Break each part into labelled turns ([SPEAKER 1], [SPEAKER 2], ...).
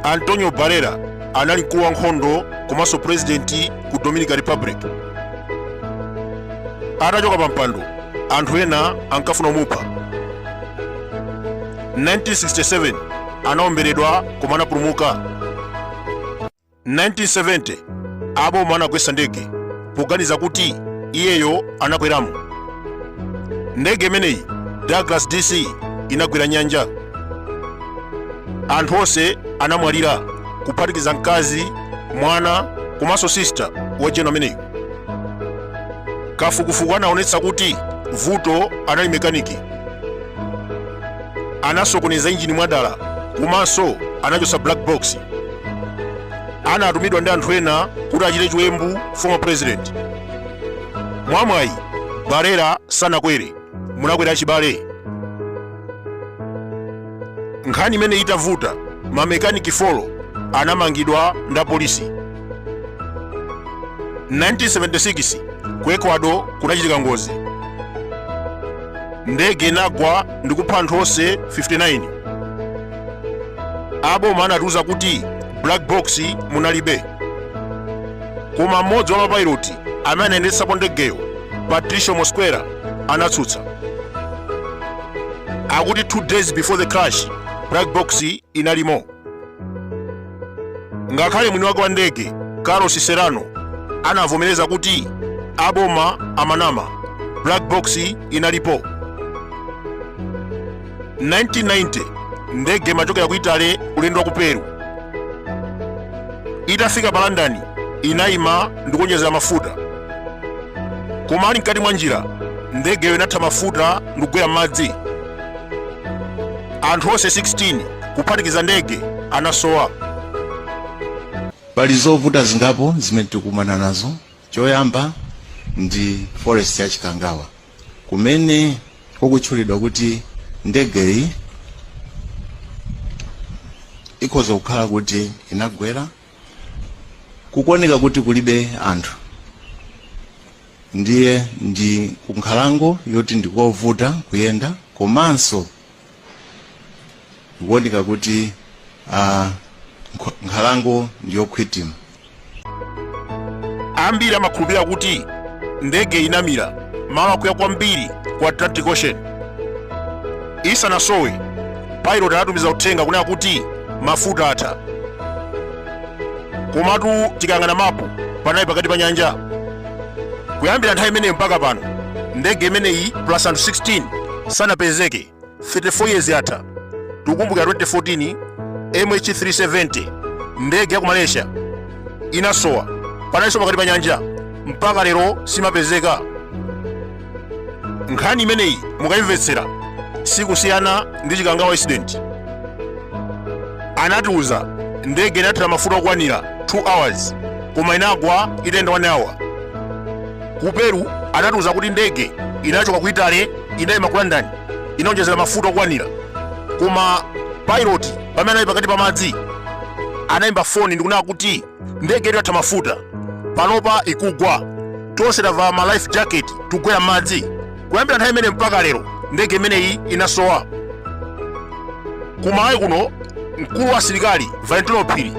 [SPEAKER 1] antonio barrera anali mkulu wa nkhondo komanso purezidenti ku dominican republic atachoka pa mpando anthu ena ankafuna kumupha 1967 anaomberedwa koma anapulumuka 1970 aboma anagwetsa ndege poganiza kuti iyeyo anakweramo ndege imeneyi douglas dc inagwera nyanja anthu onse anamwalira kuphatikiza mkazi mwana komanso sista wa jeno ameneyu kafukufuku anaonetsa kuti vuto anali mekaniki anasokoneza injini mwadala komanso anachotsa black box anatumidwa ndi anthu ena kuti achite chiwembu former president mwamwayi barrera sanakwere munakwera achibale nkhani imene itavuta mamekaniki folo anamangidwa ndi apolisi 1976 ku ecuador kunachitika ngozi ndege inagwa ndikupha anthu onse 59 aboma anatiuza kuti black box munalibe koma mmodzi wa mapayiloti amene anayendetsapo ndegeyo patricio mosquera anatsutsa akuti two days before the crash black box inalimo ngakhale mwini wake wa ndege carlos serrano anavomereza kuti aboma amanama black box inalipo 1990 ndege imachokera ku italy ulendo wa ku peru itafika pa london inayima ndikuonjezera mafuta koma ali mkati mwa njira ndegeyo inatha mafuta ndikugwera m'madzi anthu onse 16 kuphatikiza ndege anasowa
[SPEAKER 2] pali zovuta zingapo zimene tikukumana nazo choyamba ndi forest ya chikangawa kumene kukutchulidwa kuti ndegeyi ikhoza kukhala kuti inagwera kukuoneka kuti kulibe anthu ndiye ndi kunkhalango yoti ndikovuta kuyenda komanso ikuoneka kuti ah, nkh- nkhalango
[SPEAKER 1] ndiyokhwima ambiri amakhulupirira kuti ndege inamira malo akuya kwambiri ku atlantic ocean isanasowe pilot anatumiza uthenga kunena kuti mafuta atha komatu tikayang'ana mapu panali pakati pa nyanja kuyambira nthawi imeneyo mpaka pano ndege imeneyi plus anthu 16 sanapezeke 34 years atha tikukumbukira 2014 mh370 ndege ya ku malaysia inasowa panaliso pakati pa nyanja mpaka lero simapezeka nkhani imeneyi mukayimvetsera sikusiyana ndi chikangawa incident anatiuza ndege inathira mafuta okwanira 2 hours koma inagwa itayenda 1 hour ku peru anatiuza kuti ndege inachoka ku italy inayima ku london inaonjezera mafuta okwanira koma pilot pamene anali pakati pa madzi anayimba foni ndikunena kuti ndege itatha mafuta panopa ikugwa tonse tavala ma life jacket tikugwera m'madzi kuyambira nthawi imene mpaka lero ndege imeneyi inasowa kumalawi kuno mkulu wa asilikali valentino phiri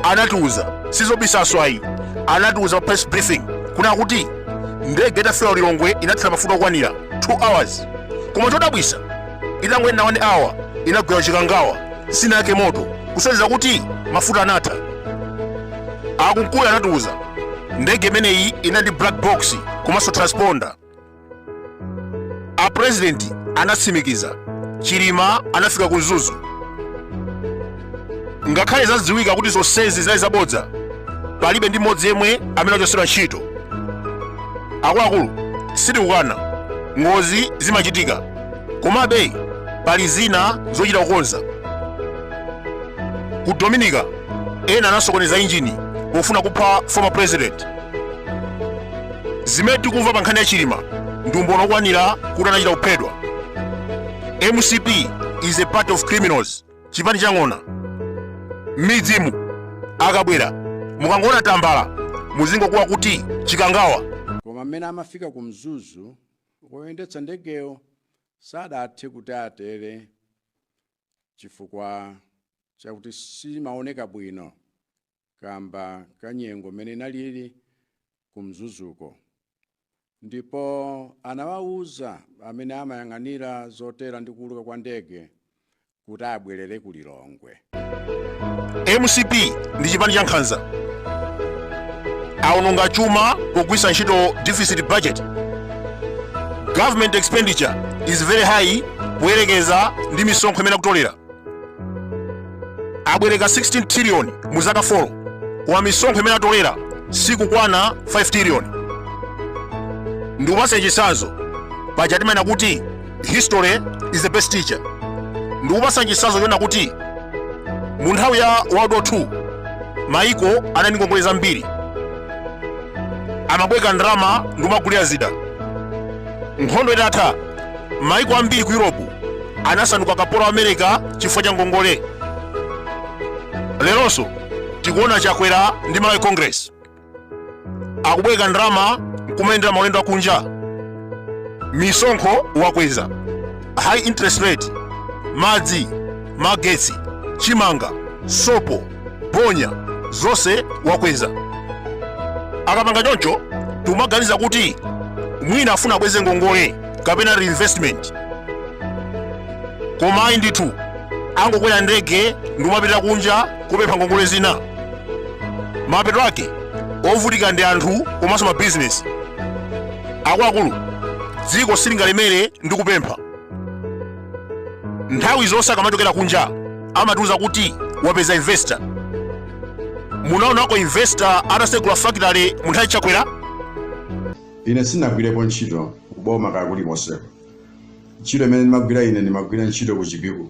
[SPEAKER 1] anatiuza sizobisaso ayi anatiuza pa press briefing kunena kuti ndege itafika ku lilongwe inathira mafuta okwanira 2 hours koma chodabwisa itangoyenda 1 hour inagwera chikangawa sinayake moto kusonyeza kuti mafuta anatha akumkuyu anatiuza ndege imeneyi inali ndi black box komanso transponder a president anatsimikiza chilima anafika ku mzuzu ngakhale zadziwika kuti zonsezi zinali zabodza palibe ndi mmodzi yemwe amene achosedwa ntchito akuluakulu sitikukana ngozi zimachitika komabe pali zina zochita kukonza ku dominica ena anasokoneza injini pofuna kupha former president zimene tikumva pa nkhani ya chilima ndi umboni okwanira kuti anachita kuphedwa mcp is a party of criminals chipani chang'ona m'midzimu akabwera mukangoona tambala muzingokuwa kuti chikangawa koma mmene
[SPEAKER 3] amafika ku mzuzu Woyendetsa ndegeyo sadathe kuti atere chifukwa chakuti simaoneka bwino kamba ka nyengo mmene inalili ku Mzuzuko ndipo anawauza amene amayang'anira zotera ndi kuuluka kwa ndege kuti abwerere ku
[SPEAKER 1] lilongwe mcp ndi chipani cha nkhanza aononga chuma pogwiritsa ntchito deficit budget government expenditure is very high poyerekeza ndi misonkho imene akutolera abwereka 16 trillion mu zaka 4 wa misonkho imene atolera sikukwana 5 trillion ndikupasa chitsanzo paja timanena kuti history is the best teacher ndikupatsani chitsanzo chona kuti mu nthawi ya world war 2 maiko anali ndi ngongole zambiri amabwereka ndalama ndikumagulira zida nkhondo itatha maiko ambiri ku europe anasanduka kapolo wa america chifukwa cha ngongole leronso tikuona chakwera ndi malawi congress akubwereka ndalama nkumayendera maulendo akunja misonkho wakweza high interest rate madzi magetsi chimanga sopo bonya zonse wakweza akapanga choncho tikumaganiza kuti mwina afuna abweze ngongole kapena reinvestment koma ayi ndithu angokwera ndege ndikumapita kunja kupempha ngongole zina mapeto ake ovutika ndi anthu komanso mabizinesi akuluakulu dziko silingalemere ndi kupempha nthawi zonse akamachokera kunja amatiuza kuti wapeza investor munaonako investor atasegula fakitale mu nthawi ya
[SPEAKER 3] chakwera ine sinagwirepo ntchito kuboma kwina kulikonseko ntchito imene ndimagwira ine ndimagwira ntchito ku chipiku